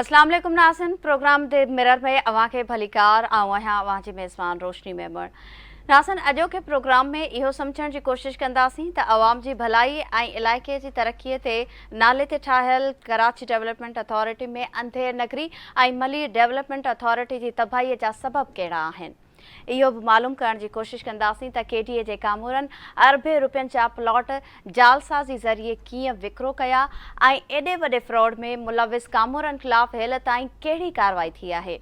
اسلام عليڪم ناظرين پروگرام دي مرر ۾ اوهان کي ڀليڪار آئون آهيان اوهان جي ميزبان روشني ميمڻ ناظرين اڄوڪي پروگرام ۾ اهو سمجهڻ جي ڪوشش ڪنداسين ته عوام جي ڀلائي ۽ علائقي جي ترقي تي نالي تي ٺاهيل ڪراچي ڊيولپمينٽ اٿارٽي ۾ انڌير نگري ۽ ملير ڊيولپمينٽ اٿارٽي جي تباهي جا سبب ڪهڙا آهن اهو به معلوم ڪرڻ جي ڪوشش ڪنداسين ته ڪي ڊي اي جي ڪامورن اربين رپين جا پلاٽ جعلسازي ذريعي ڪيئن وڪرو ڪيا ۽ ايڏي وڏي فراڊ ۾ ملوث ڪامورن خلاف هيل تائين ڪهڙي ڪارروائي ٿي آهي.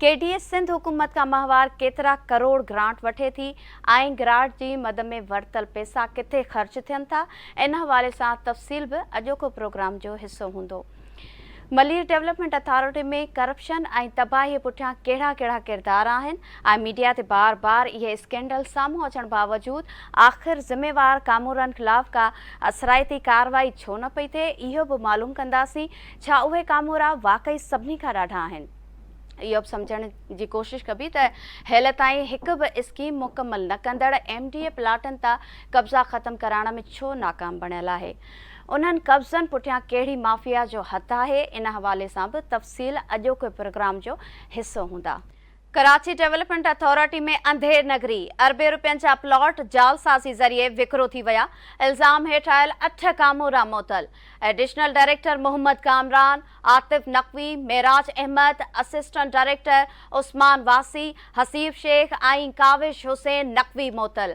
ڪي ڊي اي سنڌ حڪومت کان ماهوار ڪيترا ڪروڙ گرانٽ وٺي ٿي ۽ گرانٽ جي مد ۾ ورتل پئسا ڪٿي خرچ ٿين ٿا ان حوالي سان تفصيل به اڄوڪو پروگرام جو حصو هوندو. ملير ڊولپمينٽ اٿارٽي ۾ ڪرپشن ۽ تباهي پٺيان ڪهڙا ڪهڙا ڪردار آهن ۽ ميڊيا تي بار بار اهي اسڪينڊل سامهون اچڻ باوجود آخر ذميوار ڪامورن خلاف ڪا اثرائتي ڪارروائي ڇو نه پئي ٿئي اهو به معلوم ڪنداسين ڇا اهي ڪامورا واقعي سڀني کان ڏاڍا آهن اهو به سمجهڻ جي ڪوشش ڪبي ته هيل تائين هڪ به اسڪيم مڪمل نه ڪندڙ ايم ڊي اي پلاٽن تا قبضا ختم ڪرائڻ ۾ ڇو ناڪام بڻيل آهي انهن قبضن پٺيان ڪهڙي مافيا جو هٿ آهي ان حوالي سان به تفصيل اڄوڪي پروگرام جو حصو هوندا. ڪراچي ڊيولپمينٽ اٿارٽي ۾ انڌير نگري، اربين رپين جا پلاٽ جعلسازي ذريعي وڪرو ٿي ويا، الزام هيٺ آيل اٺ ڪامورا معطل، additional director Muhammad Kamran, Atif Naqvi, Meraj Ahmed, assistant director Usman واسي، حسيب شيخ ۽ ڪاوش حسين نقوي معطل.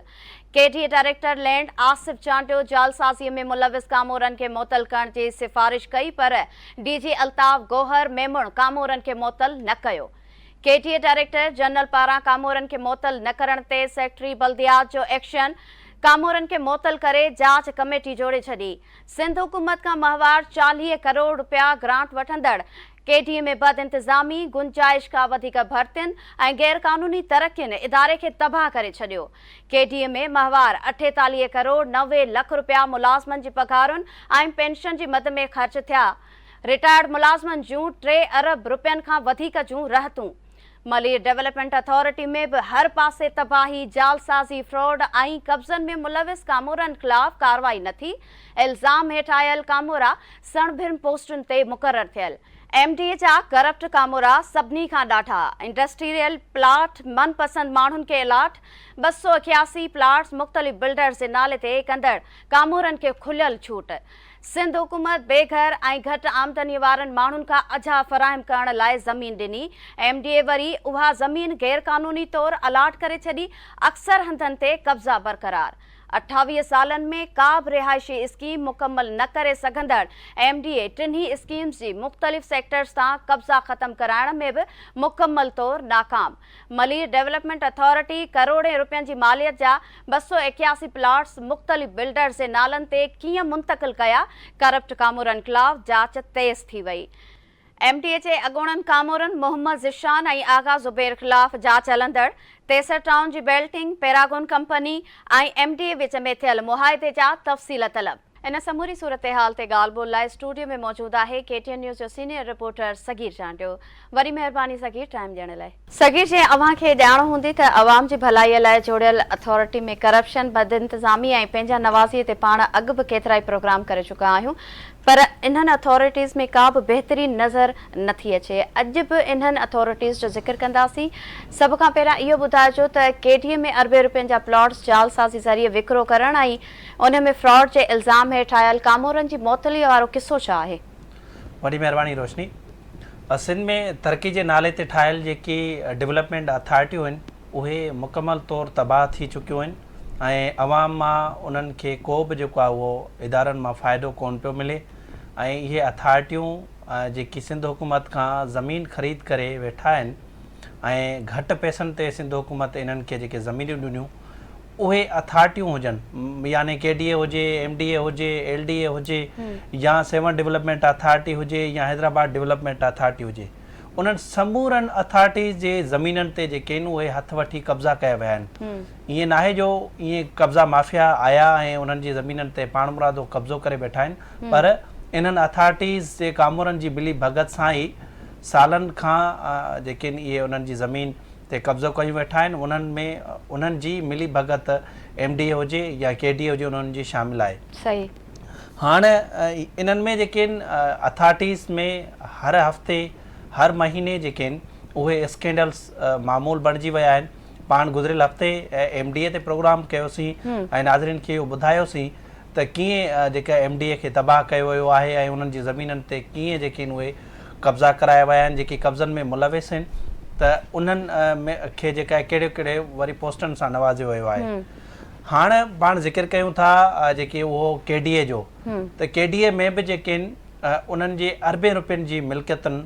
K D A director land Asif Chandio جعلسازي ۾ ملوث ڪامورن کي معطل ڪرڻ جي سفارش ڪئي پر ڊي جي الطاف گوهر ميمڻ ڪامورن کي معطل نه ڪيو. K D A director general پاران ڪامورن کي معطل نه ڪرڻ تي سيڪريٽري بلديات جو ايڪشن، ڪامورن کي معطل ڪري جاچ ڪميٽي جوڙي ڇڏي، سنڌ حڪومت کان ماهوار چاليهه ڪروڙ رپيا گرانٽ وٺندڙ ڪي ڊي ۾ بد انتظامي، گنجائش کان وڌيڪ ڀرتين ۽ غير قانوني ترقين اداري کي تباهه ڪري ڇڏيو. ڪي ڊي ۾ ماهوار اٺيتاليهه ڪروڙ نوي لک رپيا ملازمن جي پگهارن ۽ پينشن جي مد ۾ خرچ ٿيا. رٽائرڊ ملازمن جون ٽي ارب رپين کان وڌيڪ جون رهتون. ملير ڊولپمينٽ اٿارٽي ۾ به هر پاسي تباهي، جعلسازي، فراڊ ۽ قبضن ۾ ملوث ڪامورن خلاف ڪارروائي نه ٿي. الزام هيٺ آيل ڪامورا سڻڀرن پوسٽن تي مقرر ٿيل ايم ڊي ايچ آ ڪرپٽ ڪامورا سڀني کان ڏاڍا انڊسٽريل پلاٽ من پسند ماڻهن کي الاٽ ٻه سؤ اڪياسي پلاٽس مختلف بلڊرز جي نالي تي ڪندڙ ڪامورن کي کليل ڇوٽ سنڌ حڪومت بي گهر ۽ گهٽ آمدني وارن ماڻهن کان اجها فراهم ڪرڻ لاء زمين ڏني ايم ڊي اي وري اها زمين غيرقانوني طور الاٽ ڪري ڇڏي اڪثر هنڌن تي قبضا برقرار اٺاويهه سالن ۾ ڪا به رهائشي اسڪيم مڪمل نه ڪري سگهندڙ ايم ڊي اي ٽنهي اسڪيمز جي مختلف سيڪٽرز تان قبضا ختم ڪرائڻ ۾ به مڪمل طور ناڪام ملير ڊيولپمينٽ اٿارٽي ڪروڙين رپين جي ماليت جا ٻه سؤ ايڪياسي پلاٽس مختلف بلڊرز جي نالن تي ڪيئن منتقل ڪيا ڪرپٽ ڪامورن خلاف جاچ تيز ٿي وئي ايم ڊي اي جي اڳوڻن ڪامورن محمد ذيشان ۽ آغا زبير خلاف جاچ هلندڙ ٽيسر ٽائون جي balloting, Paragon company ۽ M D A وچ ۾ ٿيل معاهدي جا تفصيل طلب. ان سموري صورتحال تي ڳالهه ٻولهه لاء اسٽوڊيو ۾ موجود آهي ڪي ٽي اين نيوز جو سينيئر رپورٽر صغير چانڊيو. وري مهرباني صغير ٽائيم ڏيڻ لاء. صغير جيئن اوهان کي ڄاڻ هوندي ته عوام جي ڀلائي لاء جوڙيل اٿارٽي ۾ ڪرپشن، بدانتظامي ۽ پنهنجا نوازي تي پاڻ اڳ به ڪيترائي پروگرام ڪري چڪا آهيون پر انهن اٿارٽيز ۾ ڪا به بهتري نظر نه ٿي اچي. اڄ به انهن اٿارٽيز جو ذڪر ڪنداسين. سڀ کان پهريان اهو ٻڌائجو ته ڪي ڊي اي ۾ اربين رپين جا پلاٽس جعل سازي ذريعي وڪرو ڪرڻ ۽ انهن ۾ فراڊ جي الزام هيٺ آيل ڪامورن جي معطليء وارو قصو ڇا آهي؟ وڏي مهرباني روشني. سنڌ ۾ ترقي جي نالي تي ٺاهيل جيڪي ڊولپمينٽ اٿارٽيون آهن اهي مڪمل طور تباهه ٿي چڪيون آهن. ۽ عوام مان انهن کي ڪو به جيڪو آهي اهو ادارن مان فائدو ڪونه پيو ملي ۽ اهي اٿارٽيون جيڪي سنڌ حڪومت کان زمين خريد ڪري ويٺا آهن ۽ گهٽ پئسن تي سنڌ حڪومت انهن کي جيڪي زمينيون ڏنيون اهي اٿارٽيون هجن يعني ڪي ڊي اي هجي ايم ڊي اي هجي ايل ڊي اي هجي يا سيون ڊيولپمينٽ اٿارٽي هجي يا حيدرآباد ڊيولپمينٽ اٿارٽي هجي انهن سمورن اٿارٽيز جي زمينن تي جيڪي آهن اهي هٿ وٺي قبضا ڪيا ويا آهن ائين ناهي جو ائين قبضا مافيا آيا ۽ انهن جي زمينن تي پاڻمرادو قبضو ڪري بيٺا آهن پر انهن اٿارٽيز جي ڪامورن جي ملي ڀڳت سان ئي سالن کان جيڪين اهي انهن جي زمين تي قبضو ڪيون ويٺا آهن انهن ۾ انهن جي ملي ڀڳت ايم ڊي اي هجي يا ڪي ڊي اي هجي انهن جي شامل آهي. صحيح. هاڻ انهن ۾ جيڪين اٿارٽيز ۾ هر هفتي هر مهيني جيڪين اهي اسڪينڊلز معمول بڻجي ويا آهن. پاڻ گذريل هفتي ايم ڊي اي تي پروگرام ڪيوسين ۽ ناظرين کي اهو ٻڌايوسين ته ڪيئن جيڪا ايم ڊي اي کي تباهه ڪيو ويو آهي ۽ انهن جي زمينن تي ڪيئن جيڪي آهن اهي قبضا ڪرايا ويا آهن جيڪي قبضن ۾ ملوث آهن ته انهن کي جيڪا ڪهڙي ڪهڙي وري پوسٽن سان نوازيو ويو آهي هاڻ پاڻ ذڪر ڪيون ٿا جيڪي اهو ڪي ڊي اي جو ته ڪي ڊي اي ۾ به جيڪي آهن انهن جي اربين روپين جي ملڪيتن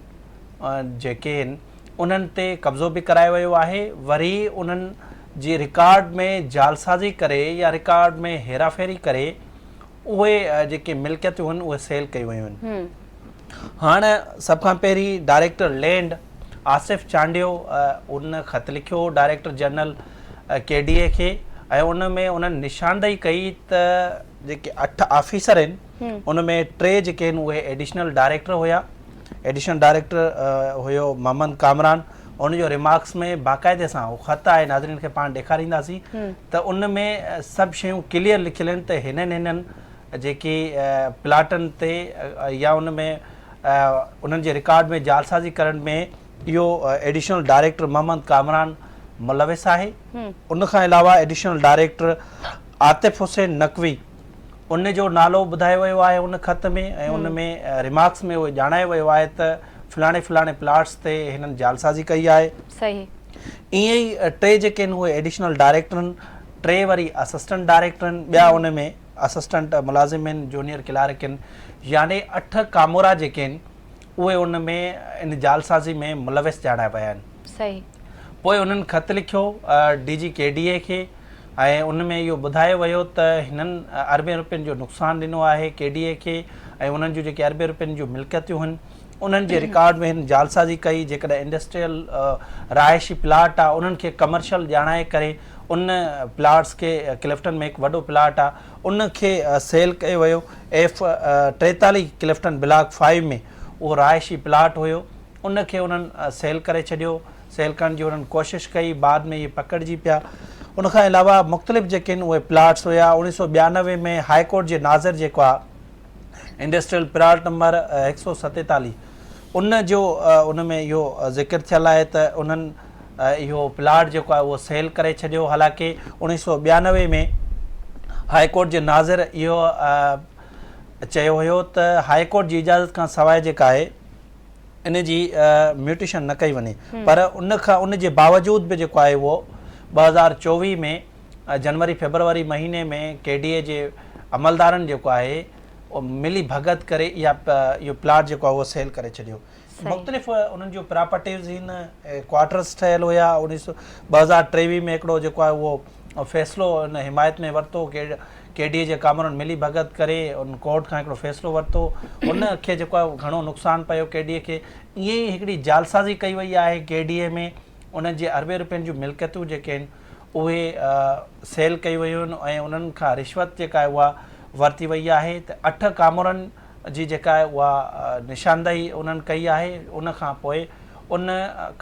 جيڪي آهن انهن تي قبضو به ڪرايو ويو آهي وري انهن جي رڪارڊ ۾ جعلسازي ڪري يا رڪارڊ ۾ هيراڦيري ڪري اهي جيڪي ملڪيتون هن اهي سيل ڪيون ويون آهن هاڻ سڀ کان پهرين ڊائريڪٽر لينڊ آصف چانڊيو ان خط لکيو director general K D A کي ۽ ان ۾ انهن نشاندهي ڪئي ته جيڪي اٺ آفيسر آهن ان ۾ ٽي جيڪي آهن اهي ايڊيشنل ڊائريڪٽر هيا ايڊيشنل ڊائريڪٽر هيو محمد ڪامران ان جو ريمارڪس ۾ باقاعدي سان هو خط آهي ناظرين کي پاڻ ڏيکارينداسين ته ان ۾ سڀ شيون ڪليئر لکيل آهن ته هنن هنن جيڪي پلاٽن تي يا ان ۾ انهن جي رڪارڊ ۾ جالسازي ڪرڻ ۾ اهو ايڊيشنل ڊائريڪٽر محمد ڪامران ملوث آهي ان کان علاوه ايڊيشنل ڊائريڪٽر عاطف حسين نقوي ان جو نالو ٻڌايو ويو آهي ان خط ۾ ۽ ان ۾ ريمارڪس ۾ اهو ڄاڻايو ويو آهي ته فلاڻي فلاڻي پلاٽس تي هنن جعلسازي ڪئي آهي صحيح ائين ئي ٽي جيڪي آهن اهي ايڊيشنل ڊائريڪٽرن ٽي وري اسسٽنٽ ڊائريڪٽر آهن ٻيا ان ۾ اسسٽنٽ ملازم آهن جونيئر ڪلارڪ آهن يعني اٺ ڪامورا جيڪي آهن اهي ان ۾ ان جعلسازي ۾ ملوث ڄاڻايا ويا آهن. صحيح. پوء انهن خط لکيو D G K D A کي ۽ ان ۾ اهو ٻڌايو ويو ته هنن اربين رپين جو نقصان ڏنو آهي ڪي ڊي اي کي ۽ انهن جون جيڪي اربين رپين جون ملڪيتون هن انهن جي رڪارڊ ۾ هن جعلسازي ڪئي جيڪڏهن انڊسٽريل رهائشي پلاٽ آهي انهن کي ڪمرشل ڄاڻائي ڪري ان پلاٽس کي ڪلفٽن ۾ هڪ وڏو پلاٽ آهي ان کي سيل ڪيو ويو. ايف ٽيتاليهه ڪلفٽن بلاڪ فائيو ۾ اهو رهائشي پلاٽ هيو، ان کي انهن سيل ڪري ڇڏيو، سيل ڪرڻ جي انهن ڪوشش ڪئي، بعد ۾ اهي پڪڙجي پيا. ان کان علاوه مختلف جيڪي ان اهي پلاٽس هيا، اوڻيهه سؤ ٻيانوي ۾ هاء ڪورٽ جي ناظر جيڪو آ، انڊسٽريل پلاٽ نمبر هڪ سؤ ستيتاليهه ان جو ان ۾ اهو ذڪر ٿيل آهي ته انهن اهو پلاٽ جيڪو آهي اهو سيل ڪري ڇڏيو حالانڪه انيس سو ٻيانوي ۾ هاء ڪورٽ جي ناظر اهو چيو هيو ته هاء ڪورٽ جي اجازت کان سواء جيڪا آهي ان جي ميوٽيشن نه ڪئي وڃي پر ان کان ان جي باوجود به جيڪو آهي اهو ٻه هزار چوويهه ۾ جنوري فيبروري مهيني ۾ ڪي ڊي اي جي عملدارن جيڪو آهي ملي ڀڳت ڪري اها اهو پلاٽ جيڪو آهي اهو سيل ڪري ڇڏيو مختلف انهن جون پراپرٽيز ان ڪوارٽرس ٺهيل هيا انيس سو ٻه هزار ٽيويهه ۾ هڪڙو جيڪو آهي اهو فيصلو ان حمايت ۾ ورتو ڪي ڊي اي جي ڪامرن ملي ڀڳت ڪري ان ڪورٽ کان هڪڙو فيصلو ورتو ان کي جيڪو آهي گهڻو نقصان پيو ڪي ڊي اي کي ائين ئي هڪڙي جالسازي ڪئي وئي آهي ڪي ڊي اي ۾ انهن جي اربين روپين جون ملڪيتون جيڪي آهن اهي سيل ڪيون ويون آهن ۽ انهن کان رشوت جيڪا آهي اها ورتي وئي آهي ته اٺ ڪامورن جي جيڪا آهي اها نشاندهي انهن ڪئي آهي ان کان پوء ان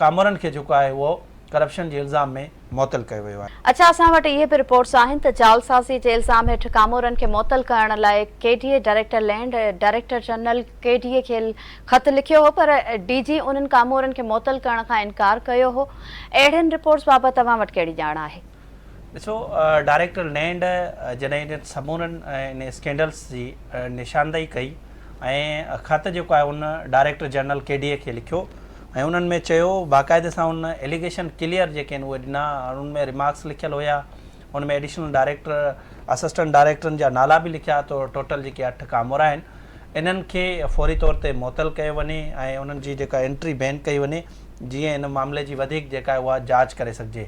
ڪامورن کي جيڪو آهي اهو ڪرپشن جي الزام ۾ معطل ڪيو ويو آهي. اچا اسان وٽ اهي به رپورٽس آهن ته جعلسازي جي الزام هيٺ ڪامورن کي معطل ڪرڻ لاء K D A director land ۽ director general K D A کي خط لکيو هو پر ڊي جي انهن ڪامورن کي معطل ڪرڻ کان انڪار ڪيو هو. اهڙين رپورٽس بابت توهان وٽ ڪهڙي ڄاڻ آهي؟ ڏسو ڊائريڪٽر نينڊ جڏهن انهن سمورن ان اسڪينڊلس جي نشاندهي ڪئي ۽ خط جيڪو آهي ان director general K D A کي لکيو ۽ انهن ۾ چيو باقاعده سان ان اليگيشن ڪليئر جيڪي آهن اهي ڏنا ان ۾ ريمارڪس لکيل هيا ان ۾ ايڊيشنل ڊائريڪٽر، اسسٽنٽ ڊائريڪٽرن جا نالا به لکيا ته ٽوٽل جيڪي اٺ ڪامورا آهن انهن کي فوري طور تي معطل ڪيو وڃي ۽ انهن جي جيڪا انٽري بين ڪئي وڃي جيئن ان معاملي جي وڌيڪ جيڪا آهي اها جاچ ڪري سگهجي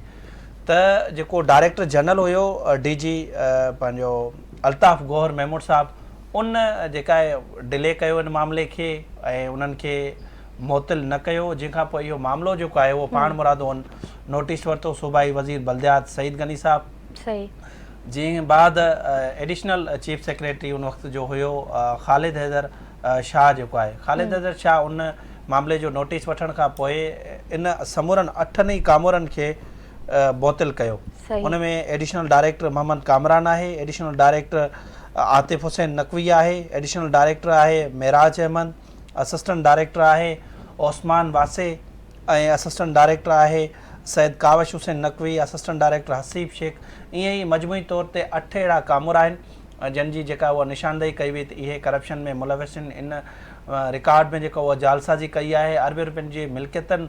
ته جيڪو ڊائريڪٽر جنرل هيو ڊي جي پنهنجو الطاف گوهر محمود صاحب ان جيڪا آهي ڊلي ڪيو ان معاملي کي ۽ انهن کي معطل نه ڪيو جنهن کان پوء اهو معاملو جيڪو آهي اهو پاڻ مرادو ان نوٽيس ورتو صوبائي وزير بلديات سعيد غني صاحب جنهن بعد ايڊيشنل چيف سيڪريٽري ان وقت جو هيو خالد حيدر شاهه جيڪو آهي خالد حيدر شاهه ان معاملي جو نوٽيس وٺڻ کان پوء ان سمورن اٺن ئي ڪامورن کي معطل ڪيو ان ۾ ايڊيشنل ڊائريڪٽر محمد ڪامران آهي ايڊيشنل ڊائريڪٽر عاطف حسين نقوي آهي ايڊيشنل ڊائريڪٽر آهي معراج احمد اسسٽنٽ ڊائريڪٽر آهي عثمان واسي ۽ اسسٽنٽ ڊائريڪٽر آهي سيد ڪاوش حسين نقوي، اسسٽنٽ ڊائريڪٽر حسيب شيخ ائين ئي مجموعي طور تي اٺ اهڙا ڪامورا آهن جن جي جيڪا اها نشاندهي ڪئي وئي ته اهي ڪرپشن ۾ ملوث آهن ان رڪارڊ ۾ جيڪا اها جعلسازي ڪئي آهي اربين رپين جي ملڪيتون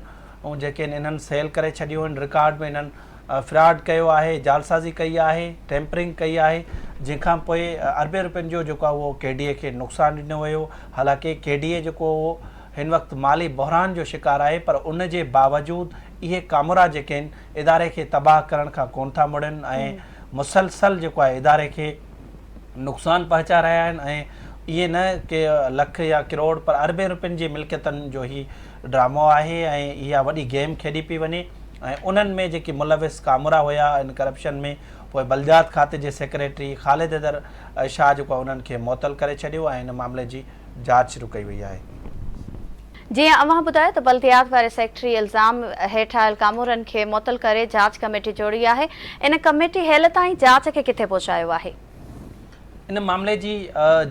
جيڪي آهن انهن سيل ڪري ڇڏيون آهن رڪارڊ ۾ انهن فراڊ ڪيو آهي، جعلسازي ڪئي آهي، ٽيمپرنگ ڪئي آهي، جنهن کان پوء اربين رپين جو جيڪو آهي اهو ڪي ڊي اي کي نقصان ڏنو ويو، حالانڪه ڪي ڊي اي جيڪو اهو هن وقت مالي بحران جو شڪار آهي پر ان جي باوجود اهي ڪامورا جيڪي آهن اداري کي تباهه ڪرڻ کان ڪون ٿا مڙن ۽ مسلسل جيڪو آهي اداري کي نقصان پهچائي رهيا آهن ۽ ائين نه ڪي لک يا ڪروڙ پر اربين رپين جي ملڪيتن جو هي ڊرامو آهي ۽ اها وڏي گيم کيڏي پئي وڃي ۽ انهن ۾ جيڪي ملوث ڪامورا هيا ان ڪرپشن ۾ پوء بلديات کاتي جي سيڪريٽري خالد حيدر شاهه جيڪو انهن کي معطل ڪري ڇڏيو ۽ ان معاملي جي جاچ شروع ڪئي وئي آهي. جيئن اوهان ٻڌايو ته بلديات واري سيڪريٽري الزام هيٺ آيل ڪامورن کي معطل ڪري جاچ ڪميٽي جوڙي آهي ان ڪميٽي هيل تائين جاچ کي ڪٿي پهچايو آهي؟ ان معاملي جي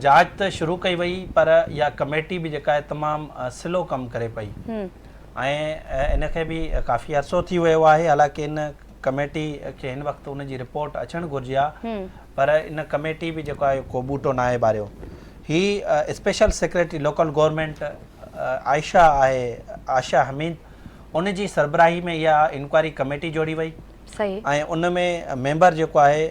جاچ ته شروع ڪئي وئي پر اها ڪميٽي به جيڪا آهي تمام سلو ڪم ڪري پئي ۽ ان کي به ڪافي عرصو ٿي ويو آهي حالانڪه ان ڪميٽي کي هن وقت ان جي رپورٽ اچڻ گهرجي ها پر ان ڪميٽي به جيڪو آهي ڪو ٻوٽو ناهي ٻاريو. هي special secretary local government Ayesha آهي عائشه حميد ان جي سربراهي ۾ اها انڪوائري ڪميٽي جوڙي وئي. صحيح. ۽ ان ۾ ميمبر جيڪو آهي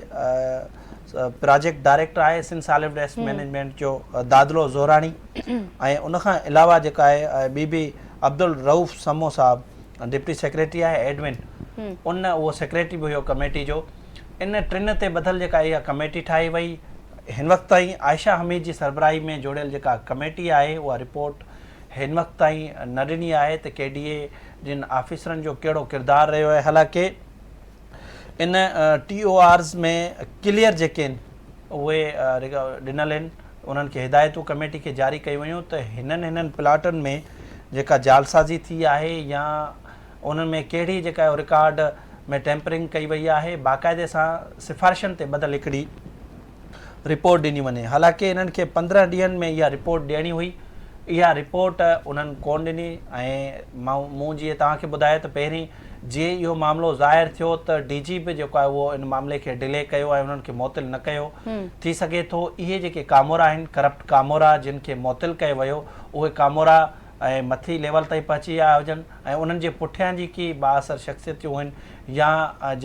پراجيڪٽ ڊائريڪٽر آهي سنڌ ساليڊ ويسٽ مينيجمينٽ جو دادلو زوراڻي ۽ ان کان علاوه جيڪا آهي ٻي به عبدالروف سمو صاحب ڊپٽي سيڪريٽري آهي ايڊمن ان اهو سيڪريٽري به هيو ڪميٽي جو ان ٽن تي ٻڌل جيڪا اها ڪميٽي ٺاهي وئي هن وقت تائين عائشه حميد جي سربراهي ۾ جوڙيل جيڪا ڪميٽي آهي اها رپورٽ هن وقت تائين نه ڏني آهي ته ڪي ڊي اي جن آفيسرن جو ڪهڙو ڪردار رهيو آهي حالانڪه ان ٽي او آرز ۾ ڪليئر جيڪي آهن اهي ڏنل آهن انهن کي هدايتون ڪميٽي کي جاري ڪيون ويون ته هنن هنن پلاٽن ۾ جيڪا جعلسازي ٿي آهي يا انهن ۾ ڪهڙي جيڪا رڪارڊ ۾ ٽيمپرنگ ڪئي وئي آهي باقاعدي سان سفارشن تي ٻڌل هڪڙي رپورٽ ڏني وڃي، حالانڪ انهن کي پندرهن ڏينهن ۾ اها رپورٽ ڏيڻي هئي، اها رپورٽ انهن ڪونه ڏني ۽ مون جيئن توهان کي ٻڌايو ته پهرين جيئن اهو معاملو ظاهر ٿيو ته ڊي جي به جيڪو آهي اهو ان معاملي کي ڊلي ڪيو ۽ انهن کي معطل نه ڪيو، ٿي سگهي ٿو اهي جيڪي ڪامورا آهن ڪرپٽ ڪامورا جن کي معطل ڪيو ويو اهي ڪامورا ۽ مٿي ليول تائين پهچي آيا هجن ۽ انهن جي پٺيان جيڪي بااثر شخصيتيون هين يا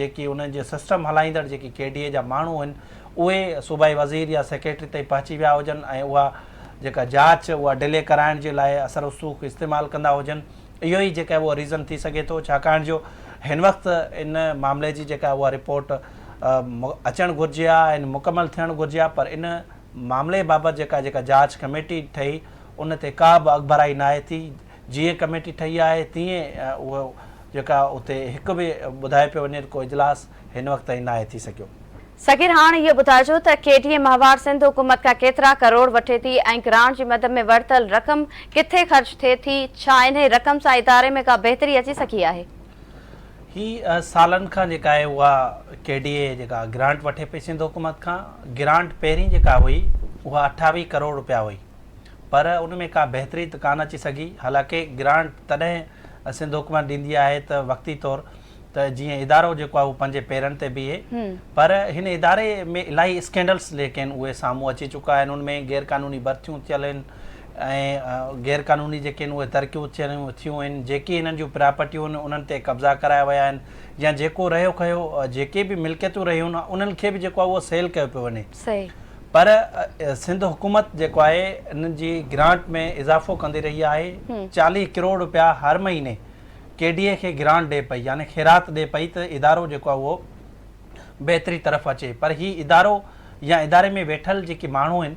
جيڪي انهن جي سسٽم هلائيندڙ جيڪي ڪي ڊي اي جا ماڻهو هين اهي صوبائي وزير يا سيڪريٽري تائين پهچي ويا هجن ۽ اها جيڪا جاچ اها ڊلي ڪرائڻ جي لاء اثر رسوخ استعمال ڪندا هجن اهو ئي جيڪا اهو ريزن ٿي سگهي ٿو ڇاڪاڻ جو هن وقت ان معاملي جي جيڪا اها رپورٽ اچڻ گهرجي ها ۽ مڪمل ٿيڻ گهرجي ها پر ان معاملي بابت جيڪا جيڪا جاچ ڪميٽي ٺهي ان تي ڪا به اڳڀرائي ناهي ٿي، جيئن ڪميٽي ٺهي آهي تيئن اهو جيڪا اتي هڪ به ٻڌايو پيو وڃي ته ڪو اجلاس هن وقت تائين ناهي ٿي سگهيو. صغير هاڻ اهو ٻڌائجو ته ڪي ڊي ايم احوار سنڌ حڪومت کان ڪيترا ڪروڙ وٺي ٿي ۽ گرانٽ جي مد ۾ ورتل رقم ڪٿي خرچ ٿئي ٿي، ڇا انهي رقم سان اداري ۾ ڪا بهتري اچي سگهي آهي؟ هي سالن کان جيڪا آهي اها ڪي ڊي اي جيڪا گرانٽ وٺي پئي سنڌ حڪومت کان گرانٽ پهرين جيڪا هئي اها اٺاويهه ڪروڙ روپيا هئي پر ان ۾ ڪا بهتري ته ڪانه اچي سگهي حالانڪه گرانٽ تڏهن سنڌ حڪومت ڏيندي آهي ته وقتي طور ته جيئن ادارو جيڪو آهي اهو پنهنجي پيرن تي بيهي پر هن اداري ۾ الاهي اسڪينڊلس جيڪي آهن اهي سامهون اچي چڪا آهن ان ۾ غيرقانوني ڀرتيون ٿيل آهن ۽ غير قانوني جيڪي آهن اهي ترقيون ٿيون آهن جيڪي هنن جون پراپرٽيون آهن انهن تي قبضا ڪرايا ويا آهن يا جيڪو رهيو کهيو جيڪي به ملڪيتون رهيون آهن انهن کي به جيڪو آهي اهو سيل ڪيو پيو وڃي پر سنڌ حڪومت جيڪو آهي انهن جي گرانٽ ۾ اضافو ڪندي رهي آهي چاليهه ڪروڙ رپيا هر مهيني ڪي ڊي اي کي گرانٽ ڏي پئي يعني خيرات ڏي پئي ته ادارو جيڪو آهي اهو بهتري طرف اچي پر هي ادارو يا اداري ۾ ويٺل جيڪي ماڻهو آهن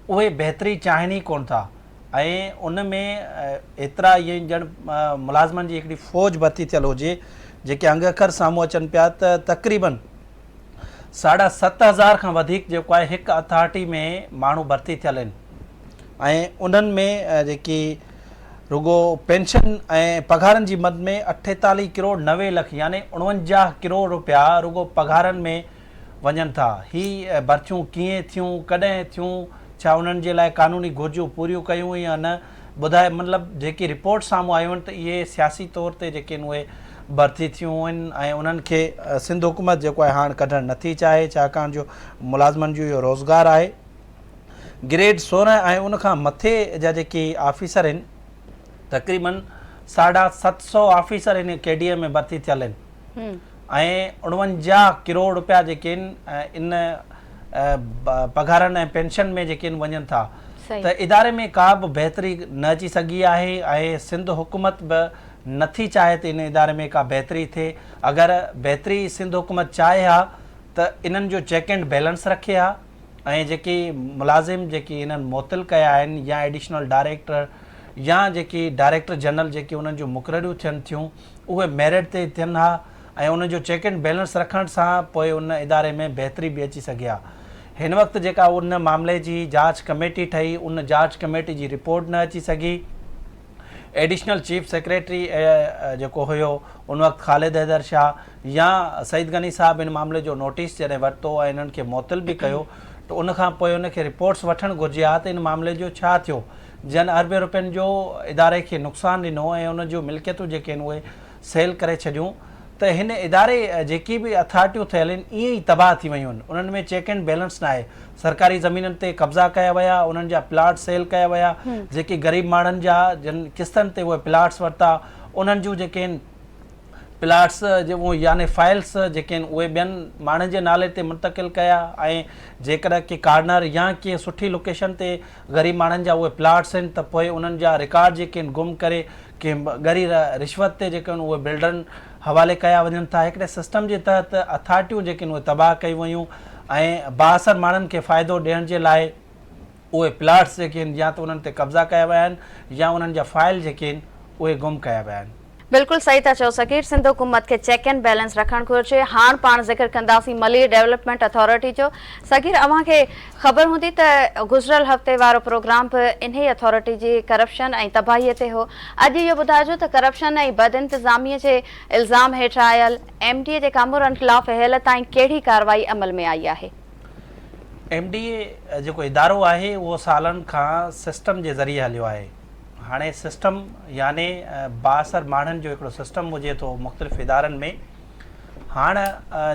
اهي بهتري چاهين ئي ڪونه ٿا ۽ ان ۾ ايترا ائين ڄڻ ملازمن جي هڪڙي فوج ڀرتي ٿيل هجي جيڪي انگ اکر سامهون اچن پيا ته تقريبن ساڍا ست هزار کان وڌيڪ جيڪو آهي هڪ اٿارٽي ۾ ماڻهو ڀرتي ٿيل آهن ۽ انهن ۾ جيڪي رڳو پينشن ۽ پگهارن جي مد ۾ اٺيتاليهه ڪروڙ نوي لک يعني اڻونجاهه ڪروڙ روپيا رڳو پگهارن ۾ وڃن ٿا. هي ڀرتيون ڪيئن ٿيون، ڪڏهن ٿيون، ڇا انهن جي لاء قانوني گهرجون پوريون ڪيون يا نه، ٻڌائي مطلب جيڪي رپورٽ سامهون آيون آهن ته اهي سياسي طور تي جيڪي آهن اهي ڀرتي ٿيون آهن ۽ انهن کي سنڌ حڪومت جيڪو آهي هاڻ ڪڍڻ نٿي چاهي ڇاڪاڻ جو ملازمن جو اهو روزگار آهي گريڊ سورهن ۽ ان کان مٿي جا جيڪي آفيسر آهن تقريبن ساڍا ست سؤ آفيسر هن ڪيڊيء ۾ ڀرتي ٿيل آهن. ۽ اڻونجاهه ڪروڙ رپيا جيڪي ان ان پگهارن ۽ پينشن ۾ جيڪي ان وڃن ٿا ته اداري ۾ ڪا به بهتري نه اچي سگهي آهي ۽ سنڌ حڪومت به نٿي چاهي ته ان اداري ۾ ڪا بهتري ٿئي اگر بهتري سنڌ حڪومت چاهي ها ته انهن جو چيڪ اينڊ بيلنس رکي ها ۽ جيڪي ملازم جيڪي انهن معطل ڪيا آهن يا ايڊيشنل ڊائريڪٽر يا جيڪي ڊائريڪٽر جنرل جيڪي انهن جون مقرريون ٿين ٿيون اهي ميرٽ تي ٿين ها ۽ ان جو چيڪ اينڊ بيلنس رکڻ سان پوء ان اداري ۾ بهتري به اچي سگهي ها. هن وقت جيڪا ان معاملي جي جاچ ڪميٽي ٺهي ان جاچ ڪميٽي جي رپورٽ نه اچي سگهي. ايڊيشنل چيف سيڪريٽري جيڪو هيو ان وقت خالد حيدر شاهه يا سعيد غني صاحب ان معاملي جو نوٽيس جڏهن ورتو ۽ انهن کي معطل به ڪيو ته ان کان پوء ان کي رپورٽس وٺڻ گهرجي ها ته ان معاملي جو ڇا ٿيو. جن اربين روپين جو اداري کي نقصان ڏنو ۽ ان جون ملڪيتون جيڪي آهن اهي سيل ڪري ڇڏيون ته هن اداري جيڪي به اٿارٽيون ٿيل آهن ائين ئي تباهه ٿي ويون آهن انهن ۾ چيڪ اينڊ بيلنس ناهي سرڪاري زمينن تي قبضا ڪيا ويا انهن جا پلاٽ سيل ڪيا ويا جيڪي غريب ماڻهن جا جن قسطن تي اهي پلاٽس ورتا انهن جون جيڪي آهن پلاٽس يعني فائلس جيڪي آهن اهي ٻين ماڻهن جي نالي تي منتقل ڪيا ۽ جيڪڏهن ڪي ڪارنر يا ڪي سٺي لوڪيشن تي غريب ماڻهن جا اهي پلاٽس آهن ته پوء انهن جا رڪارڊ جيڪي آهن گم ڪري ڪنهن ڳري رشوت تي جيڪي آهن اهي بلڊرن حوالي ڪيا وڃن ٿا هڪڙي سسٽم جي تحت اٿارٽيون جيڪي آهن اهي تباهه ڪيون ويون ۽ بااثر ماڻهن کي فائدو ڏيڻ جي لاء اهي پلاٽس جيڪي آهن يا ته انهن تي قبضا ڪيا ويا آهن يا انهن جا فائل جيڪي آهن اهي گم ڪيا ويا آهن. بلڪل صحيح ٿا چئو صغير سنڌ حڪومت کي چيڪ اينڊ بيلنس رکڻ گهرجي هاڻ پاڻ ذڪر ڪنداسين ملير ڊيولپمينٽ اٿارٽي جو صغير اوهان کي خبر هوندي ته گذريل هفتي وارو پروگرام به انهي اٿارٽي جي ڪرپشن ۽ تباهي تي هو اڄ اهو ٻڌائجو ته ڪرپشن ۽ بد انتظامي جي الزام هيٺ آيل ايم ڊي اي جي ڪامورن خلاف هيل تائين ڪهڙي ڪارروائي عمل ۾ آئي آهي. ايم ڊي اي جيڪو ادارو آهي اهو سالن کان سسٽم جي ذريعي هليو آهي. هاڻي سسٽم يعني بااثر ماڻهن جو هڪڙو سسٽم هجي ٿو مختلف ادارن ۾ هاڻ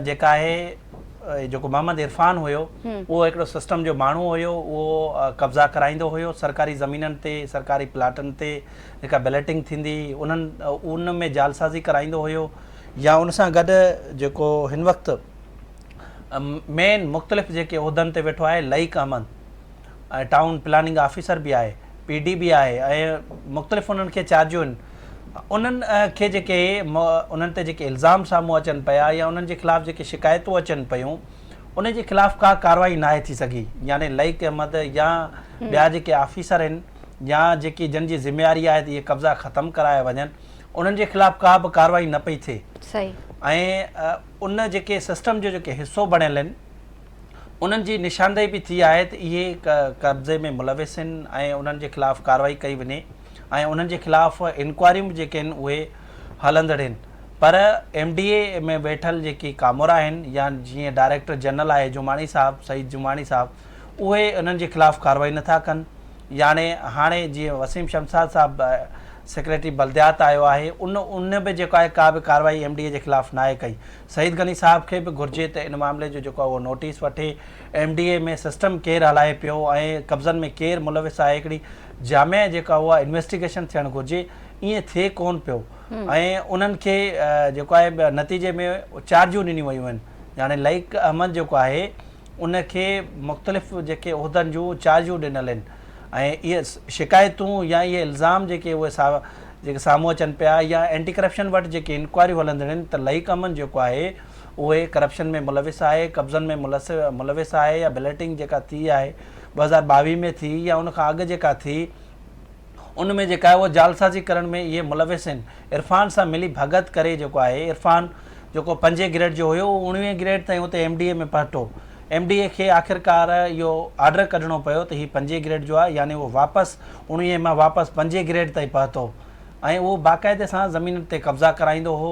جيڪا آهي جيڪو محمد عرفان هيو اهو هڪڙو سسٽم جو ماڻهو هيو اهو قبضا ڪرائيندو هيو سرڪاري زمينن تي سرڪاري پلاٽن تي جيڪا بليٽنگ ٿيندي انهن ان ۾ جالسازي ڪرائيندو هيو يا ان سان گڏ جيڪو هن وقت مين مختلف جيڪي عهدن تي ويٺو آهي Laeeq Ahmed town planning officer به آهي پي ڊي به آهي ۽ مختلف انهن کي چارجون آهن انهن کي جيڪي انهن تي جيڪي الزام سامهون اچن پيا يا انهن جي خلاف جيڪي شڪايتون اچن پيون ان جي خلاف ڪا ڪارروائي ناهي ٿي سگهي يعني لئيق احمد يا ٻيا جيڪي آفيسر آهن يا جيڪي جن جي ذميواري آهي ته اهي قبضا ختم ڪرايا وڃن انهن جي خلاف ڪا به ڪارروائي نه پئي ٿئي ۽ ان جيڪي سسٽم جو جيڪي حصو بڻيل آهن انهن جي نشاندهي به ٿي آهي ته اهي قبضي ۾ ملوث آهن ۽ انهن جي خلاف ڪارروائي ڪئي وڃي ۽ انهن جي خلاف انڪوائريون به جيڪي آهن اهي هلندڙ آهن پر ايم ڊي اي ۾ ويٺل جيڪي ڪامورا آهن يا جيئن ڊائريڪٽر جنرل آهي جماڻي صاحب سعيد جماڻي صاحب اهي انهن جي خلاف ڪارروائي نٿا ڪن ياڻي هاڻي جيئن وسيم شمساد صاحب سيڪريٽري بلديات آيو آهي ان ان به جيڪا آهي ڪا به ڪارروائي ايم ڊي اي جي خلاف ناهي ڪئي سعيد غني صاحب کي به گهرجي ته ان معاملي جو جيڪو اهو نوٽيس وٺي ايم ڊي اي ۾ سسٽم ڪير هلائي پيو ۽ قبضن ۾ ڪير ملوث آهي هڪڙي جامع جيڪا اها انويسٽيگيشن ٿيڻ گهرجي ائين ٿئي ڪون پيو ۽ انهن کي جيڪو آهي نتيجي ۾ چارجون ڏنيون ويون آهن جاڻي لئق احمد جيڪو آهي ان کي مختلف جيڪي عهدن جون چارجون ڏنل آهن ۽ اهي شڪايتون يا اهي الزام جيڪي اهي جيڪي سامهون اچن پيا يا اينٽي ڪرپشن وٽ جيڪي انڪوائريون هلندڙ آهن ته لائق امن جيڪو آهي اهي ڪرپشن ۾ ملوث آهي قبضن ۾ ملوث آهي يا بليٽنگ جيڪا ٿي آهي ٻه هزار ٻاويهه ۾ ٿي يا ان کان اڳ جيڪا ٿي ان ۾ جيڪا آهي اها جعلسازي ڪرڻ ۾ اهي ملوث آهن عرفان سان ملي ڀڳت ڪري جيڪو آهي عرفان جيڪو پنجين گريڊ جو هيو اهو اڻويهين گريڊ تائين اتي ايم ڊي اي ۾ پهٽو ايم ڊي اي کي آخرڪار اهو آرڊر ڪڍڻو پيو ته هي پنجين گريڊ جو آهي يعني اهو واپس اڻويهين مان واپس پنجين گريڊ تائين پهتو ۽ اهو باقاعدي سان زمينن تي قبضا ڪرائيندو هو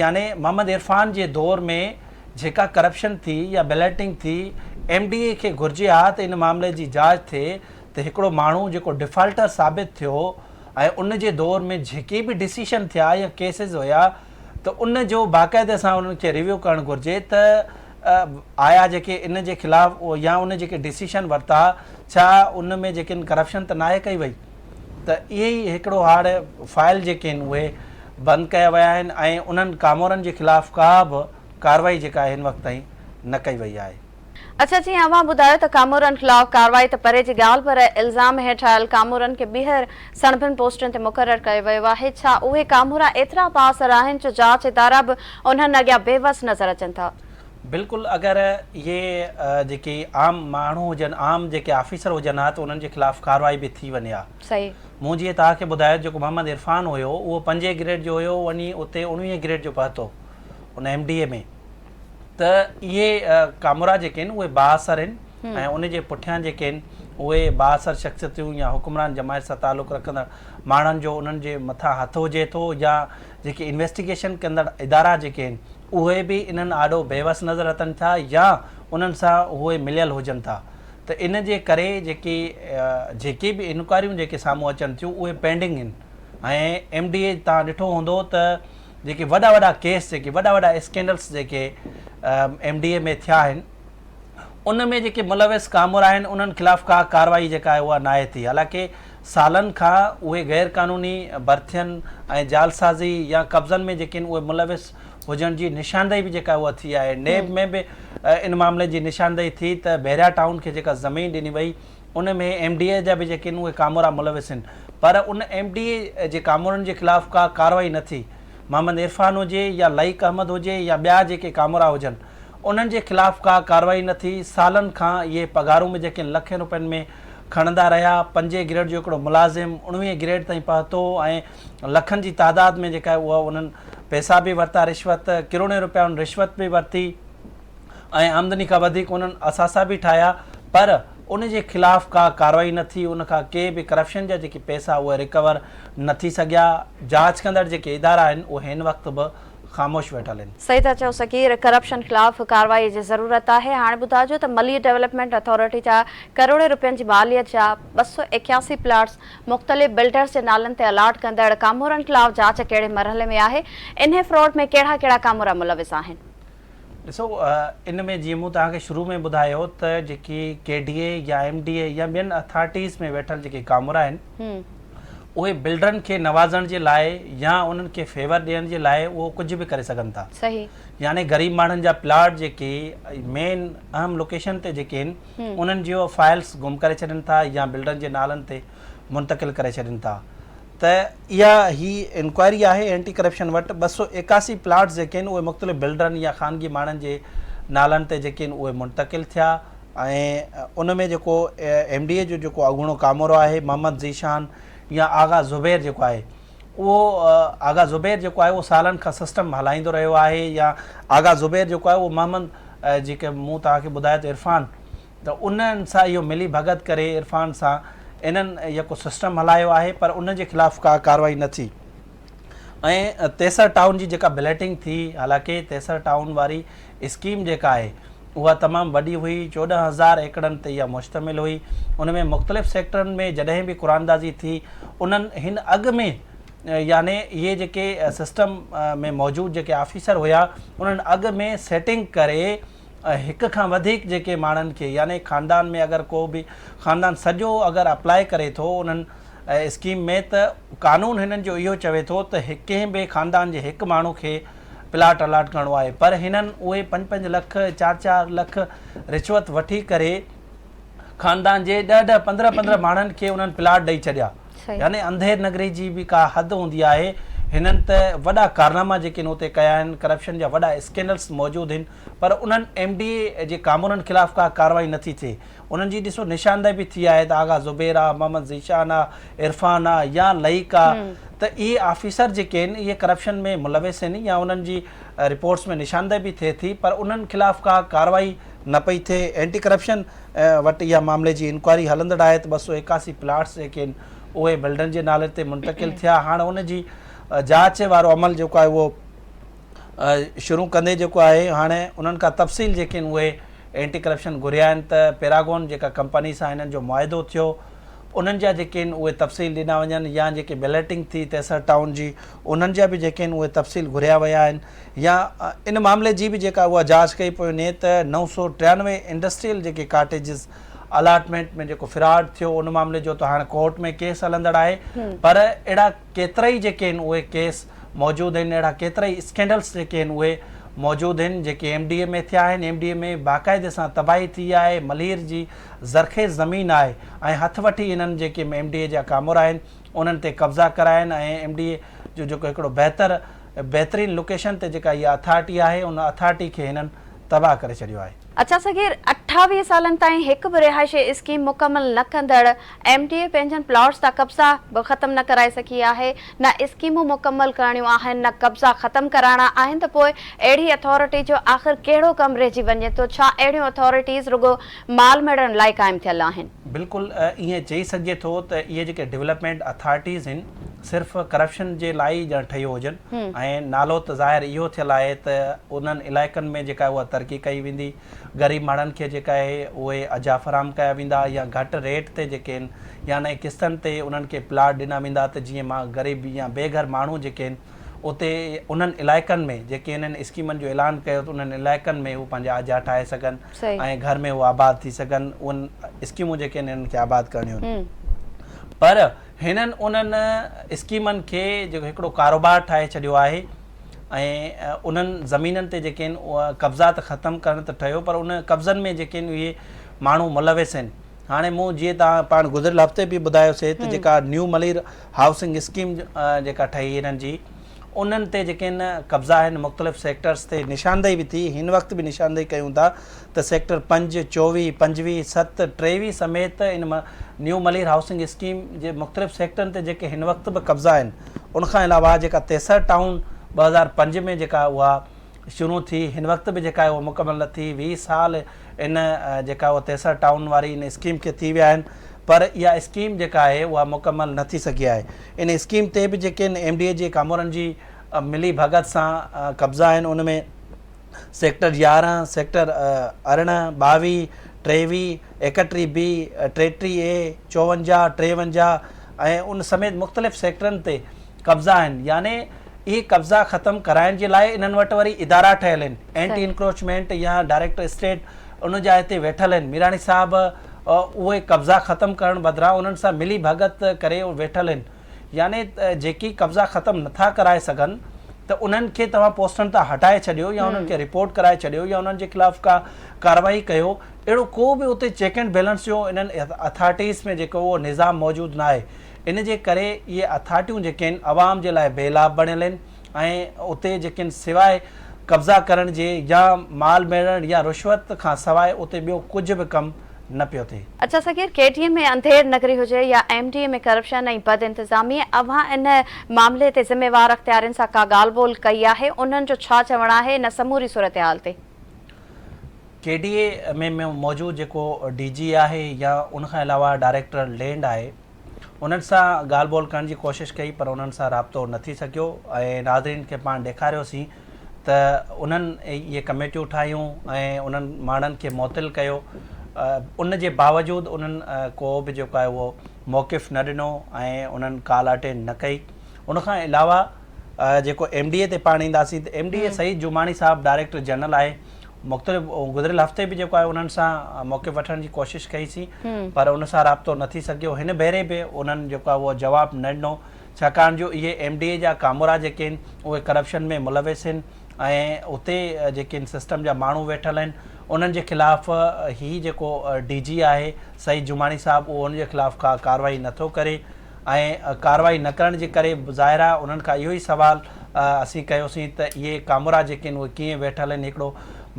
يعني محمد عرفان جي دور ۾ جيڪا ڪرپشن ٿي يا بليٽنگ ٿي ايم ڊي اي کي گهرجي ها ته ان معاملي جي جاچ ٿئي ته هڪڙو ماڻهو جيڪو ڊفالٽر ثابت ٿيو ۽ ان جي دور ۾ جيڪي به ڊسيشن ٿيا يا ڪيسز هيا ته ان جو باقاعده سان انهن کي ريويو ڪرڻ گهرجي ته آيا جيڪي ان جي خلاف يا ان جيڪي ڊسيشن ورتا ڇا ان ۾ جيڪي ان ڪرپشن ته ناهي ڪئي وئي ته اهي ئي هڪڙو هاڙ فائل جيڪي آهن اهي بند ڪيا ويا آهن ۽ انهن ڪامورن جي خلاف ڪا به ڪارروائي جيڪا آهي هن وقت تائين نه ڪئي وئي آهي. اچا جيئن اوهان ٻڌايو ته ڪامورن خلاف ڪارروائي ته پري جي ڳالهه پر الزام هيٺ آيل ڪامورن کي ٻيهر سڻڀن پوسٽن تي مقرر ڪيو ويو آهي ڇا اهي ڪامورا ايترا بااثر آهن جو جاچ ادارا به انهن اڳيان بي وس نظر اچن ٿا. بلڪل اگر اهي جيڪي عام ماڻهو هجن عام جيڪي آفيسر هجن ها ته انهن جي خلاف ڪارروائي به ٿي وڃي ها. صحيح. مون جيئن توهان کي ٻڌايو جيڪو محمد عرفان هيو اهو پنجين گريڊ جو هيو وڃي اتي اڻويهين گريڊ جو پهتو ان ايم ڊي اي ۾. ته اهي ڪامورا جيڪي آهن اهي بااثر آهن ۽ ان جي پٺيان جيڪي آهن اهي بااثر شخصيتون يا حڪمران جماعت سان تعلق رکندڙ ماڻهن جو انهن جي مٿان هٿ هجي ٿو يا جيڪي انويسٽيگيشن ڪندڙ ادارا جيڪي آهن اهي به انهن آڏو بيوس نظر اچن ٿا يا انهن سان اهي مليل هجن ٿا ته ان جي ڪري جيڪي جيڪي به انڪوائريون جيڪي سامهون اچن ٿيون اهي پينڊنگ آهن ۽ ايم ڊي اي تان ڏٺو هوندو ته جيڪي وڏا وڏا ڪيس جيڪي وڏا وڏا اسڪينڊلس جيڪي ايم ڊي اي ۾ ٿيا آهن ان ۾ جيڪي ملوث ڪامورا آهن انهن خلاف ڪا ڪارروائي جيڪا آهي اها ناهي ٿي حالانڪه سالن کان اهي غير قانوني برٿين ۽ جعلسازي يا قبضن ۾ جيڪي آهن اهي ملوث هجڻ جي نشاندهي به جيڪا اها ٿي آهي نيب ۾ به ان معاملي جي نشاندهي ٿي ته بحريا ٽائون کي جيڪا زمين ڏني وئي ان ۾ ايم ڊي اي جا به جيڪي آهن اهي ڪامورا ملوث آهن پر ان ايم ڊي اي جي ڪامورن جي خلاف ڪا ڪارروائي نه ٿي. محمد عرفان هجي يا لائق احمد هجي يا ٻيا جيڪي ڪامورا هجن انهن جي خلاف ڪا ڪارروائي نه ٿي سالن کان اهي پگهارون به جيڪي آهن لکين رپين ۾ کڻندا رهيا پنجين گريڊ جو هڪڙو ملازم اڻويهين گريڊ تائين پهتو ۽ لکن جي تعداد ۾ جيڪا آهي اها انهن پئسا به ورتا رشوت ڪروڙين رپيا انهن رشوت به ورتي. ۽ آمدني کان وڌيڪ انهن اثاثا به ٺاهيا پر ان جي خلاف ڪا ڪارروائي نه ٿي ان کان ڪي به ڪرپشن جا جيڪي پئسا اهي ريڪور نه ٿي سگهيا جاچ ڪندڙ جيڪي ادارا آهن اهي هن وقت به خاموش ويٺل آهن. صحيح ٿا چئو سڳير ڪرپشن خلاف ڪارروائي جي ضرورت آهي هاڻي ٻڌاجو ته ملير ڊيولپمينٽ اٿارٽي جا ڪروڙين رپين جي ماليت جا ٻه سؤ ايڪياسي پلاٽس مختلف بلڊرز جي نالن تي الاٽ ڪندڙ ڪامورن خلاف جاچ ڪهڙي مرحلي ۾ آهي انهي فراڊ ۾ ڪهڙا ڪهڙا ڪامورا ملوث آهن. ڏسو ان ۾ جيئن مون توهان کي شروع ۾ ٻڌايو ته جيڪي ڪي ڊي اي يا ايم ڊي اي يا ٻين اٿارٽيز ۾ ويٺل جيڪي ڪامورا آهن اهي بلڊرن کي نوازڻ جي لاء يا انهن کي فيور ڏيڻ جي لاء اهو ڪجهه به ڪري سگهن ٿا يعني غريب ماڻهن جا پلاٽ جيڪي مين اهم لوڪيشن تي جيڪي آهن انهن جي اهو فائلس گم ڪري ڇڏين ٿا يا بلڊرن جي نالن تي منتقل ڪري ڇڏين ٿا ته اها هي انڪوائري آهي اينٽي ڪرپشن وٽ ٻه سؤ ايڪاسي پلاٽس جيڪي آهن اهي مختلف بلڊرن يا خانگي ماڻهن جي نالن تي جيڪي آهن اهي منتقل ٿيا ۽ ان ۾ جيڪو ايم ڊي اي جو جيڪو اڳوڻو ڪامورو آهي محمد ذيشان يا آغا زبير جيڪو آهي اهو آغا زبير جيڪو آهي اهو سالن کان سسٽم هلائيندو رهيو آهي يا آغا زبير جيڪو آهي اهو محمد جيڪي مون توهان کي ٻڌايو ته عرفان ته انهن سان اهو ملي ڀڳت ڪري عرفان سان انهن يڪو سسٽم هلايو آهي پر انهن جي خلاف ڪا ڪارروائي نه ٿي ۽ تيسر ٽائون جي جيڪا بليٽنگ ٿي حالانڪه تيسر ٽائون واري اسڪيم جيڪا آهي اها تمام وڏي هئي چوڏهن هزار ايڪڙن تي اها مشتمل هئي ان ۾ مختلف سيڪٽرن ۾ جڏهن به قراندازي ٿي انهن هن اڳ ۾ يعني اهي جيڪي سسٽم ۾ موجود جيڪي آفيسر هيا انهن اڳ ۾ سيٽنگ ڪري ۽ هڪ کان وڌيڪ جيڪي ماڻهن کي يعني خاندان ۾ اگر ڪو به خاندان سڄو اگر اپلاء ڪري ٿو انهن اسڪيم ۾ ته قانون هنن جو اهو چوي ٿو ته ڪنهن به خاندان جي هڪ ماڻهو کي پلاٽ الاٽ ڪرڻو آهي پر هنن اهي پنج پنج لک چار چار لک رشوت وٺي ڪري خاندان جي ڏهه ڏهه پندرهن پندرهن ماڻهن کي انهن پلاٽ ڏئي ڇڏيا. يعني انڌير نگري جي به ڪا حد هوندي آهي هنن ته وڏا ڪارناما جيڪي هن اتي ڪيا آهن ڪرپشن جا وڏا اسڪينڊلس موجود هن پر انهن ايم ڊي اي جي ڪامورن خلاف ڪا ڪاروائي نه ٿي ٿئي انهن جي ڏسو نشاندهي به ٿي آهي ته آغا زبير آ محمد ذيشان آ عرفان آ يا لئيڪ آ ته اهي آفيسر جيڪي هن اهي ڪرپشن ۾ ملوث هن يا انهن جي رپورٽس ۾ نشاندهي به ٿئي ٿي پر انهن خلاف ڪا ڪاروائي نه پئي ٿئي اينٽي ڪرپشن وٽ اها معاملي جي انڪوائري هلندڙ آهي ته ٻه سؤ ايڪاسي پلاٽس جيڪي آهن اهي بلڊرن جي نالي تي منتقل ٿيا هاڻ ان جي جاچ وارو عمل جيڪو آهي اهو شروع ڪندي جيڪو آهي هاڻي انهن کان تفصيل جيڪي آهن اهي اينٽي ڪرپشن گهريا آهن ته پيراگون جيڪا ڪمپني سان هنن جو معاهدو ٿيو انهن جا جيڪي آهن اهي تفصيل ڏنا وڃن يا جيڪي بليٽنگ ٿي تيسر ٽائون جي انهن جا به جيڪي آهن اهي تفصيل گهريا ويا آهن يا ان معاملي جي به جيڪا اها جاچ ڪئي پئي وڃي ته نو سؤ ٽيانوي انڊسٽريل جيڪي ڪاٽيجز الاٽمينٽ ۾ جيڪو فراڊ ٿيو ان معاملي جو ته هاڻ ڪورٽ ۾ ڪيس هلندڙ آهي پر اهڙا ڪيترائي جيڪي آهن اهي ڪيس موجود آهن اهڙا ڪيترائي اسڪينڊلس جيڪي آهن اهي موجود آهن جيڪي ايم ڊي اي ۾ ٿيا آهن ايم ڊي اي ۾ باقاعدي سان تباهي ٿي آهي ملير جي زرخيز زمين آهي ۽ هٿ وٺي انهن جيڪي ايم ڊي اي جا ڪامورا آهن انهن تي قبضا ڪرايا آهن ۽ ايم ڊي اي جو جيڪو هڪڙو بهتر بهترين لوڪيشن تي جيڪا اها اٿارٽي آهي ان اٿارٽي کي هنن تباهه ڪري ڇڏيو آهي. اچا صغير، اٺاويهه سالن تائين هڪ به رهائشي اسڪيم مڪمل نه ڪندڙ ايم ڊي اي پنهنجن پلاٽس جا قبضا به ختم نه ڪرائي سگهي آهي، نه اسڪيمون مڪمل ڪرڻيون آهن نه قبضا ختم ڪرائڻا آهن ته پوء اهڙي اٿارٽي جو آخر ڪهڙو ڪم رهجي وڃي ٿو، ڇا اهڙيون اٿارٽيز رڳو مال ميڙڻ لاء قائم ٿيل آهن. بلڪل ائين چئي سگهجي ٿو ته اهي جيڪي ڊولپمينٽ اٿارٽيز هن صرف ڪرپشن جي لاء ئي ڄڻ ٺهيو هجن ۽ نالو ته ظاهر اهو ٿيل آهي ته انهن علائقن ۾ جيڪا اها ترقي ڪئي ويندي غريب ماڻهن کي جيڪا اهي اهي اجها فراهم ڪيا ويندا يا گهٽ ريٽ تي جيڪي هن يا نئين قسطن تي انهن کي پلاٽ ڏنا ويندا ته جيئن مان غريب يا بي گهر ماڻهو جيڪي هن اتي انهن علائقن ۾ جيڪي انهن اسڪيمن جو اعلان ڪيو ته انهن علائقن ۾ هو پنهنجا اجها ٺاهي سگهن. ۽ گهر ۾ هو آباد ٿي سگهن اهن اسڪيمون جيڪي آهن انهن کي آباد ڪرڻيون آهن پر هنن انهن اسڪيمن کي جيڪو هڪڙو ڪاروبار ٺاهي ڇڏيو آهي ۽ انهن زمينن تي جيڪي آهن اها قبضا ته ختم ڪرڻ ته ٺهيو پر ان قبضن ۾ جيڪي آهن اهي ماڻهو ملوث آهن هاڻي مون جيئن تان پاڻ گذريل هفتي به ٻڌايو سي ته جيڪا نيو ملير هائوسنگ اسڪيم جيڪا ٺهي هنن جي انهن تي جيڪي هن قبضا آهن مختلف سيڪٽرس تي نشاندهي به ٿي هن وقت به نشاندهي ڪيون ٿا ته سيڪٽر پنج، چوويهه، پنجويهه، ست، ٽيويهه سميت ان نيو ملير هائوسنگ اسڪيم جي مختلف سيڪٽرن تي جيڪي هن وقت به قبضا آهن ان کان علاوه جيڪا تيسر ٽائون ٻه هزار پنج ۾ جيڪا اها شروع ٿي هن وقت به جيڪا آهي اها مڪمل نه ٿي ويهه سال ان جيڪا اهو تيسر ٽائون واري ان اسڪيم کي ٿي ويا آهن پر اها اسڪيم جيڪا آهي اها مڪمل نه ٿي سگهي آهي ان اسڪيم تي به جيڪي ان ايم ڊي اي جي ڪامورن جي ملي ڀڳت سان قبضا آهن ان ۾ سيڪٽر يارهن سيڪٽر ارڙهن ٻاويهه ٽيويهه ايڪٽيهه بي ٽيٽيهه اي چوونجاهه ٽيونجاهه ۽ ان سميت مختلف سيڪٽرن تي قبضا آهن يعني اهي قبضا ختم ڪرائڻ جي لاء انهن وٽ وري ادارا ٺهيل آهن اينٽي انڪروچمينٽ يا ڊائريڪٽر اسٽيٽ ان جا هتي ويٺل آهن ميراڻي صاحب اهي قبضا ختم ڪرڻ بدران انهن سان ملي ڀڳت ڪري ويٺل آهن يعني جيڪي قبضا ختم نٿا ڪرائي سگهن ته انهن کي توهان پوسٽن تان هٽائي ڇڏيو يا انهن کي رپورٽ ڪرائي ڇڏيو يا انهن جي خلاف ڪا ڪارروائي ڪيو اهڙو ڪو به اتي چيڪ اينڊ بيلنس جو انهن اٿارٽيز ۾ جيڪو اهو نظام موجود ناهي ان جي ڪري اهي اٿارٽيون جيڪي آهن عوام جي لاء بي لاڀ بڻيل آهن ۽ اتي جيڪي آهن سواء قبضا ڪرڻ جي يا مال ميڙڻ يا رشوت کان سواء اتي ٻيو ڪجهه به ڪم نه پيو ٿئي. اچا صغير، ڪي ٽي ايم ۾ انڌير نگري هجي يا ايم ڊي اي ۾ ڪرپشن ۽ بد انتظامي، اوهان ان معاملي تي ذميوار اختيارين سان ڪا ڳالهه ٻولهه ڪئي آهي؟ انهن جو ڇا چوڻ آهي ان سموري صورتحال تي؟ ڪي ڊي اي ۾ موجود جيڪو ڊي جي آهي يا ان کان علاوه ڊائريڪٽر لينڊ آهي، انهن سان ڳالهه ٻولهه ڪرڻ جي ڪوشش ڪئي پر انهن سان رابطو نه ٿي سگهيو ۽ ناظرين کي پاڻ ڏيکاريوسين ته انهن اهي ڪميٽيون ٺاهيون ۽ انهن ماڻهن کي معطل ڪيو ان جي باوجود انهن ڪو به جيڪو آهي اهو موقف نه ڏنو ۽ انهن ڪال اٽينڊ نه ڪئي ان کان علاوه جيڪو ايم ڊي اي تي پاڻ اينداسين ته M D A Saeed Jamani صاحب ڊائريڪٽر جنرل آهي مختلف گذريل هفتي به جيڪو آهي انهن سان موقف وٺڻ جي ڪوشش ڪئي سين پر ان سان رابطو نه ٿي سگهيو هن ڀيري به انهن جيڪو آهي اهو جواب نه ڏنو ڇاڪاڻ جو اهي ايم ڊي اي جا ڪامورا جيڪي آهن اهي ڪرپشن ۾ ملوث آهن ۽ اتي جيڪي آهن سسٽم جا ماڻهو ويٺل آهن انهن جي خلاف هي جيڪو ڊي جي آهي سعيد جماڻي صاحب اهو ان جي خلاف ڪا ڪارروائي نٿو ڪري ۽ ڪارروائي نه ڪرڻ جي ڪري ظاهر آهي انهن کان اهو ئي سوال اسين ڪيوسين ته اهي ڪامورا جيڪي آهن اهي ڪيئن ويٺل آهن هڪڙو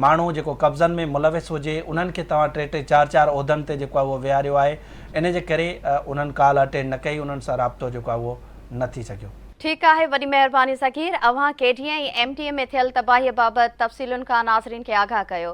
ماڻهو جيڪو قبضن ۾ ملوث هجي انهن کي توهان ٽي ٽي چار چار عهدن تي جيڪو آهي اهو ويهاريو آهي ان جي ڪري انهن ڪال اٽينڊ نه ڪئي انهن سان رابطو جيڪو آهي اهو نه ٿي سگهيو. ٺيڪ آهي وڏي مهرباني صغير اوهان K D A ۽ M D A ۾ ٿيل تباهي بابت تفصيلن کان ناظرين کي آگاهه ڪيو.